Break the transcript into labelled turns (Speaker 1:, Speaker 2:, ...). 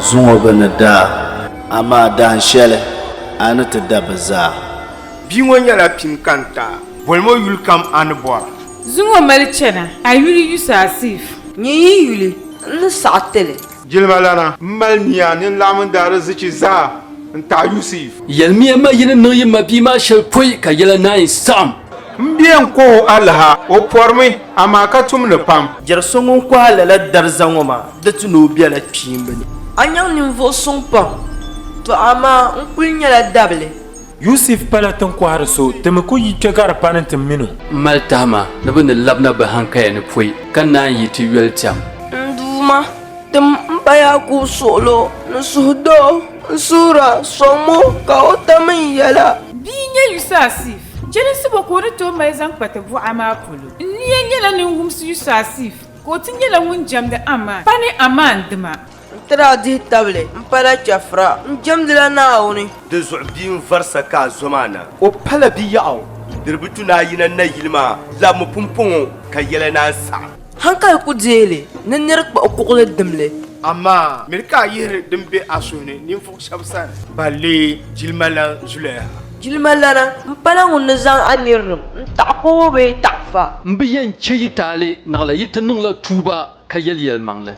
Speaker 1: zuŋɔ bɛ ni daa. Amaa dahin shɛli a ni ti da bɛ zaa. Bia ŋɔ
Speaker 2: nyɛla pini kani ta. Boli mo yuli kam a ni bɔra. Zuŋɔ mali
Speaker 3: chana a yuli yusa asiif. Nyɛ yi yuli
Speaker 4: n ni saɣi ti li. Jilima lana m
Speaker 2: mali nia ni n laɣim n daarizichi zaa n taɣi Yusiif. Yɛlimiya ma yi ni
Speaker 5: niŋ yi mabia maa shɛli pɔi ka yɛla naai saɣim. M bia n
Speaker 2: kɔhi o alaha, o pɔrimi, amaa ka tum ni pam. Jɛri so ŋun kɔhi a
Speaker 1: lala dariza ŋɔ maa. Di ti ni o bela kpiimba ni. A nyaŋ ninvuɣ
Speaker 4: suŋ pam, tɔ amaa n kul nyɛla dabili. Yusif pala
Speaker 6: tinkɔhiri so, ti mi ku yi kpe gari pani nti min o. M mali tahima
Speaker 5: ni bɛ ni labina bɛ hankaya ni pɔi, ka naan yi ti yoli tɛm. N Duuma,
Speaker 4: tim m ba Yaakubu suɣilo ni suhudoo, n suhira, sɔŋm o, ka o tam n yɛla. Bia n-nyɛ
Speaker 3: Yusasif, jɛlinsi bɔ ka o ni tooi mali zaŋ kpa ti buɣa maa polo? N nia nyɛla ninwumsi Yusasif. Ka o ti nyɛla ŋun jɛmdi Aman pa ni Aman dima. N ti daa dihi
Speaker 4: tabili m-pala Chɛfura, n jɛmdila Naawuni. Dinzuɣu bia
Speaker 7: n-varisa ka a zo maa na. O pala biɛɣu, diri bi tu ni a yina nayili maa labimi pumpɔŋɔ, ka yɛla ni a ni saɣi. Hankali ku deei
Speaker 4: li ni nir kpuɣi kuɣili dimli. Amaa miri
Speaker 2: ka a yihiri din be a suhu ni ninvuɣ shɛb sani. Balli jilima lan zuliya. Jilimalana
Speaker 4: m-pala ŋun ni zaŋ a nirilim n-taɣi kowo bee taɣifa. M
Speaker 5: bi yɛn chɛ yi
Speaker 4: taali
Speaker 5: naɣila yi ti niŋla tuuba ka yɛli yɛlimaŋli.